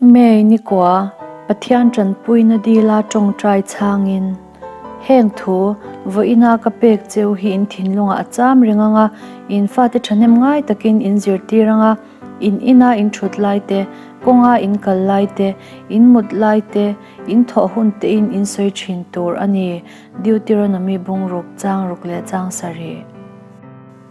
May nikua, Pathian tanpuina dila tawngtai chhangin, heng thu vawiina ka pek cheu hi in thinlungah a cham reng ang a, in fate thahnem ngai takin in zirtir ang a, in ina in thut lai te, kawnga in kal lai te, in mut lai te, in thawh hun tein in sawi thin tur a ni. Deuteronomy bungruk chang ruk leh chang sarih.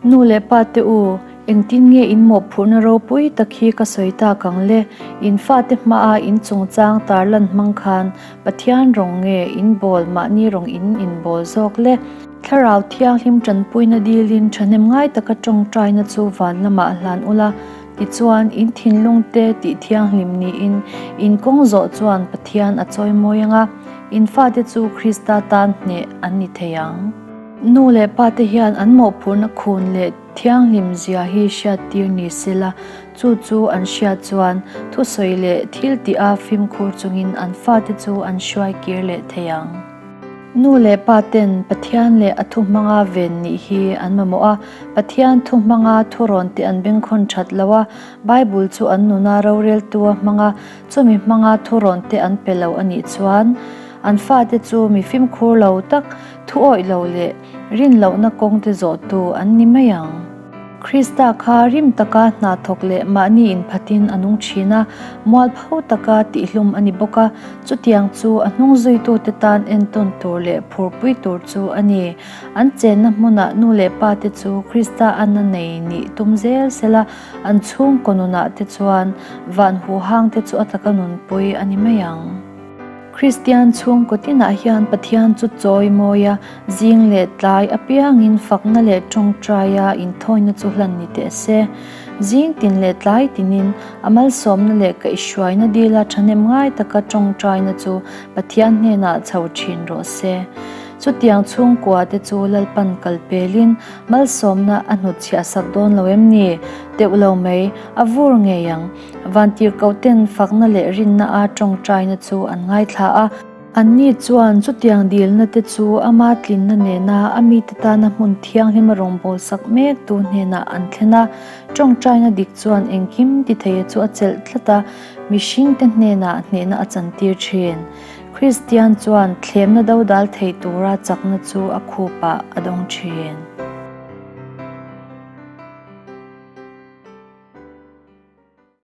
Nu leh pa te u, engtin nge in mawhphurhna ropui tak hi ka sawi tak ang le? In fate hmaha in chungchang tar lan hmang khan Pathian rawng nge in bawl mahni rawng in in bawl zawk le? Thlarau thianghlim tanpuina dilin thahnem ngai taka tawngtaina chu van lamah a hlan ula, tichuan in thinlungte tih thianghlim niin in kawng zawh chuan Pathian a chawi mawi anga, in fate chu Krista tan hneh an ni thei ang. Nu leh pa te hian an mawhphurhna khun leh thianghlim zia hi hriattir ni se la, chu chu an hriat chuan thusawi leh thil tih a fimkhur chungin an fate chu an hruai kir leh thei ang. Nu leh pa ten Pathian leh a thu hmanga ven nih hi an mamawh a, Pathian thu hmanga thurawn te an bengkhawn that lo a, Bible chu an nuna roreltua hmanga chumi hmanga thurawn te an pe lo a nih chuan an fate chu mi fimkhur lo tak, Thu awih loh leh rin lohna kawngte zawhtu an ni mai ang. Krista kha rim taka hna thawk leh mahni inphatin a nung thin a, mual pho taka tihhlum a ni bawk a, chutiang chu a hnung zuitute tan entawn tur leh phurpui tur chu a ni. An chenna hmunah nu leh pate chu Krista an a nei nih tum zel sel a, an chhungkaw nunahte chuan van huhangte chu a taka nunpui a ni mai ang. Kristian chhungkaw tinah hian Pathian chu chawi mawi a, zing leh tlai apiangin fakna leh tawngtaia inthawina chu hlan ni teh se. Zing tin leh tlai tinin a malsawmna leh kaihhruaina dila thahnem ngai taka tawngtaina chu Pathian hnenah chho thin rawh se. Chutiang chhungkua te chu lalpan kal pelin malsawmna a hnutchhiahsak dawn lo em ni? Deuh lo mai, a vur ngei ang. Vantir Kauten fakna leh rinna a tawngtaina chu an ngaithla a. Anni chuan chutiang dilna te chu ama tlinna nena a mite tana hmun thianghlim a rawn bawlsak mek tu hnenah an thlen a. Tawngtaina dik chuan engkim ti theia chu a chelh tlat a, mihring te hnenah hnehna a chantir thin. Kristian chuan thlemna dodal thei tura chakna chu a khupah a dawng thin.